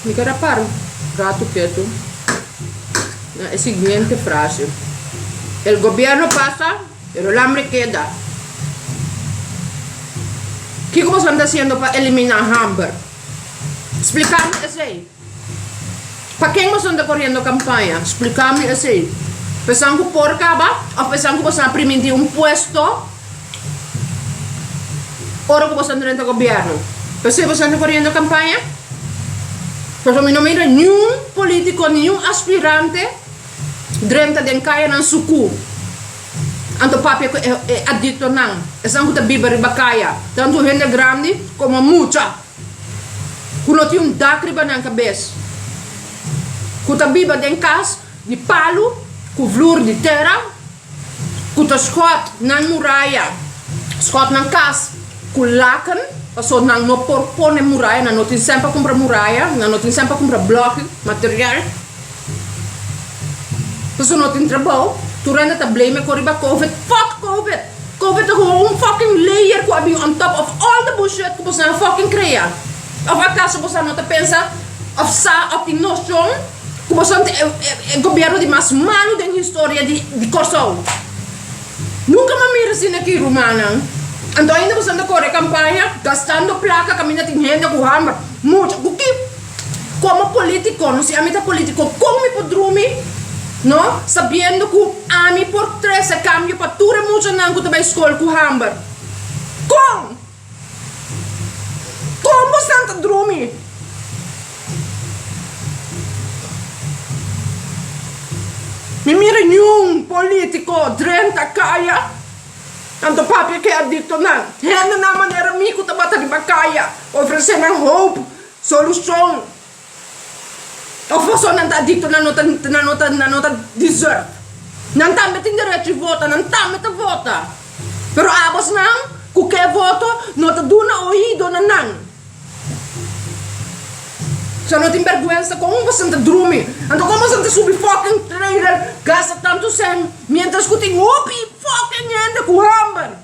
Mi keda para un ratu ketu na e siguiente frase, El gobierno pasa, pero el hambre keda. Kiko bo tabata hasiendo pa elimina hamber? Splikáme esei. Pa ken bo san ta koriendo kampaña? Spliká mi esei. Pesan ku por kaba òf pesan ku bo sa primi di un puesto ora ku bo sa drenta gobièrnu? P'esei bo san ta koriendo kampaña? Pasobra mi no mira niun polítiko, niun aspirante drenta den kayanan sukú anto papia ku e adiktonan, esan ku ta biba riba kaya, tantu hende grandi komo mucha. ku no tin un dak riba nan kabes, ku ta biba den kas di palu ku vlur di tera, ku ta skòt nan muraya, skòt nan kas ku laken, pasobra nan no por pone muraya, nan no tin sèn pa kumpra muraya, nan no tin sèn pa kumpra blòk, material. Paso no tin trabao, tur hende ta blame e kon riba covid. Fuck covid! Covid ta hoba un fucking layer ku a bin on top of all the bushit ku boso a fucking krea. Of akaso boso no ta pensa of sa of tin noshon ku boso e e gobièrnu di mas malu den historia di di Kòrsou? Nunka mi a mira asina aki, rumannan. Anto ainda boso ta kore kampaña gastando plaka kaminda tin hende ku hòmber. Mucha, ku ki? Como politico, no si ami ta politico, con mi por drumi, no, sabiendo cu ami por trece cambio pa tur e muchanan cu ta bay school cu hamber? Con? Con bosnan ta drumi? Mi mira niun politico drenta caya, tanto papia ke adictonan, hendenan manera mi cu tabata riba caya ofrecenan hoop. Solucion, Of boso nan ta adicto na no ta na no ta na no ta desert nan tambe tin derecho di vota nan tambe ta vota pero abosnan cu ke voto no ta duna oido na nan so no tin berguensa con boson ta drumi anto con boson ta subi fucking trailer gasta tanto cen mientras cu tin hopi fucking hende cu hamber.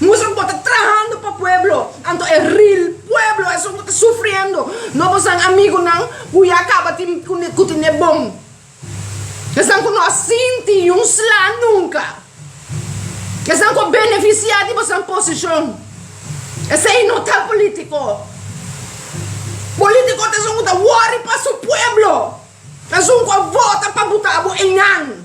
Muster bo ta trahando pa pueblo anto e real pueblo esun cu ta sufriendo no bo san amigunan cu ya caba tin cu tin e bon esnan cu no a sinti ni un sla nunca esnan cu a beneficia di bosan posicion esey no ta politico politico ta esun cu ta worry pa su pueblo esun cu a vota pa buta bo eynan.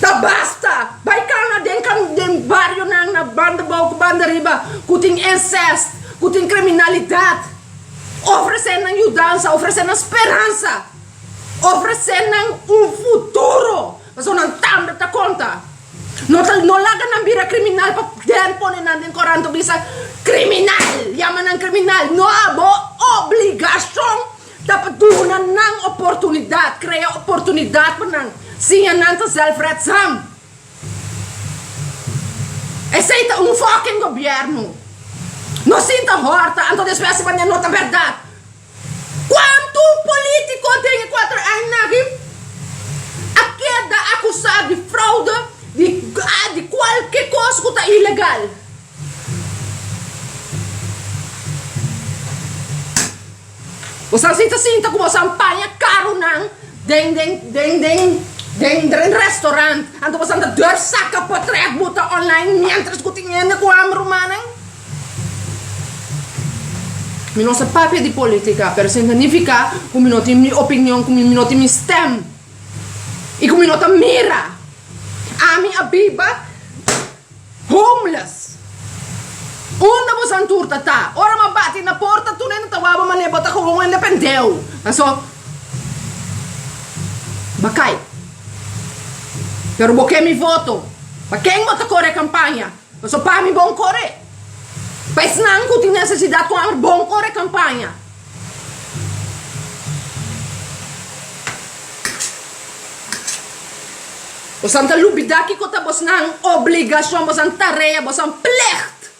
Ta basta! Bai kanga den den barionan na banda bou ku banda riba ku tin ensèst, ku tin kriminalidat. Ofresé nan yudansa, ofresé nan speransa, ofresé nan un futuro, pasobra nan tambe ta konta. No ta no laga nan bira kriminal pa den pone nan den koranto bisa kriminal, yama nan kriminal. No, abo obligashon. Ta pa duna nan oportunidad, crea oportunidad pa nan, siña nan ta zelfredzaam. Esey ta un fucking gobierno. No sinta horta, anto despues si manera no ta berdad. Cuanto politico den e cuatro aña nan aki a keda acusa di fraude, di di cualke cos cu ta ilegal? Bosan si ta sinta ku bosan paña karunan den den den den den den restaurant, anto bosan ta dor saka pa trèk buta online miéntras ku tin hende ku hamber rumannan? Mi no sa papia di polítika, pero sin ta nifiká ku mi no tin mi opinion, ku mi mi no tin mi stèm i ku mi no ta mira. Ami a biba. Homeless! Unda bo santur ta ta? Ora m'a bati na porta tur hende ta waba manera bo ta koba un hende pendeho. Paso b'a kai. Pero bo ke mi voto. Pa ken bo ta kore kampaña? Paso pa mi bon kore. Pa esnan ku tin nesesidat ku hamber bon kore kampaña. Bosan ta lubida kico ta bosnan obligacion, bosan tarea, bosan plicht.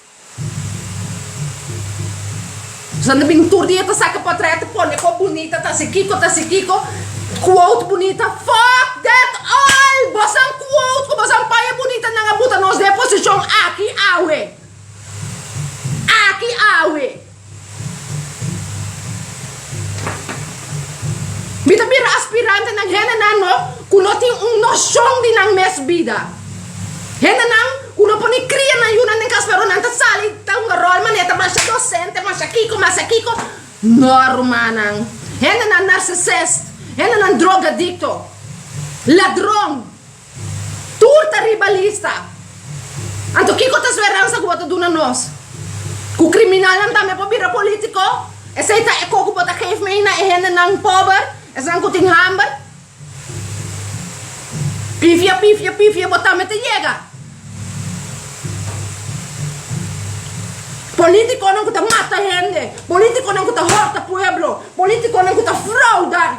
Bosan ta bin tur dia ta saca potret, ta pone cor bunita, ta haci kico, ta haci kico, quote bunita, fuck that all! Bosan quote cu bosan paña bunitanan a buta nos den posicion aki awe. Aki awe. Mi ta bira aspirantenan, hendenan no ku no tin un noshon di nan mes bida. Hendenan ku no por ni kria nan yu nan den kas pero nan ta sali ta hunga ròl manera ta masha dosente, masha kiko, masha kiko. No rumannan. Hendenan narcisist, hendenan drogadikto, ladron. Tur ta ribalista. Anto kiko ta speransa ku bo ta duna nos? Ku kriminalnan tambe por bira polítiko? Esei ta e kos ku bo ta geef mei na e hendenan pober, esnan ku tin hamber? Pifia, pifia, pifia bo tambe ta yega. Polítikonan ku ta mata hende, polítikonan ku ta horta pueblo, polítikonan ku ta frouda.